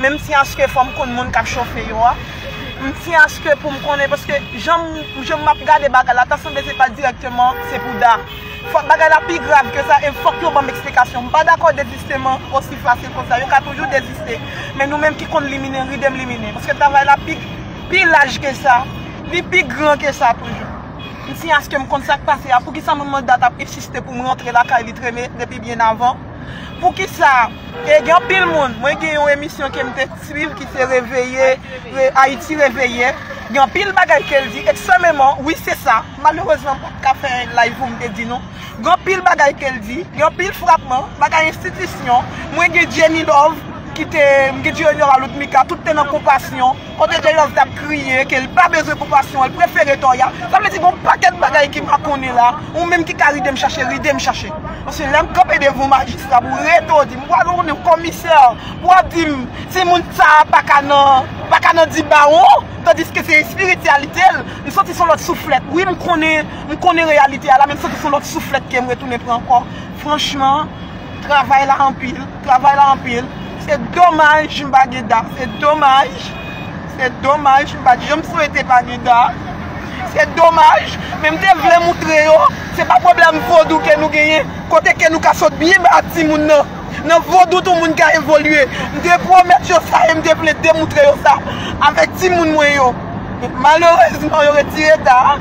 men m ti aske fò m konn moun k ap chofe yo a, m ti aske pou m konnen paske jan m ap gade bagay la ta sanble se pa dirèkteman se pou Da. Fòk bagay la pi grav ke sa e fòk yo ban m eksplikasyon. M pa dakò dezisteman osi fasil konsa, yo ka toujou deziste men nou menm ki konn liminen ride m liminen paske travay la pi laj ke sa, li pi gran ke sa toujou. M ti aske m konn sa k pase a, poukisa manman Da t ap ensiste pou m rantre lakay li treme depi byen avan. Poukisa e gen anpil moun, mwen gen yon emisyon ke m te swiv ki se reveye, Ayiti reveye, gen anpil bagay ke l di ekstrememan, wi se sa, malerezman m pa t ka fè live pou m te di nou, gen anpil bagay ke l di, gen anpil frapman, bagay enstitisyon, mwen gen Jenny Love, ki te, m gen Dieunora Ludmika, tout te nan konpasyon. Kote de love tap kriye ke li pa bezwen pou passion an li prefere tò ya sa vle di gon pakèt bagay ki makonnen la ou menm ki ka ridem chache ridem chache paske lèm kanpe devan yon majistra pou rete w dim ou pral yon komisè pou wap dim timoun sa paka nan paka nan di bawon tandiske se espirityalite l m santi son lòt souflèt wi m konnen m konnen reyalite a la men m santi son lòt souflèt kem retounen pran ankò franchman. Travay la anpil, travay la anpil. Se domaj m pa gen dam. Se domaj. Se domaj m pa gen. Yo m swete pa gen dam. Se domaj. Men m te vle moutre yo, se pa pwoblèm vodou ke nou genyen, kote ke nou ka sot byen ba timoun nan. Nan vodou tou moun ka evolye. M te pwomèt yo sa e m te vle demoutre yo sa avèk timoun mwen yo. Malerezman yo retire ta a.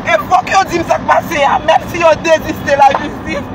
E fòk yo di m sa k pase a. Menm si yo deziste lajistis.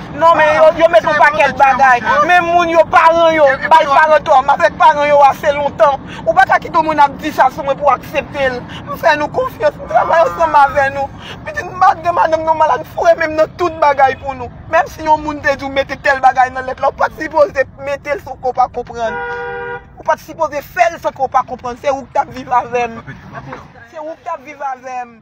Non men yo met yon pakèt bagay men moun yo paran yo bay paran tò m avèk paran yo ase lontan ou pa ka kite yon moun ap di sa sou mwen pou w aksepte l m fè nou konfyans m travay ansanm avè nou pitit m pa gen madanm nan malad m foure menm nan tout bagay pou nou menm si yon moun te di w mete tèl bagay nan lèt la ou pat sipoze mete l san ke w pa konprann ou pat sipoze fè l san ke w pa konprann se ou k t ap viv avè m se ou k t ap viv avè m.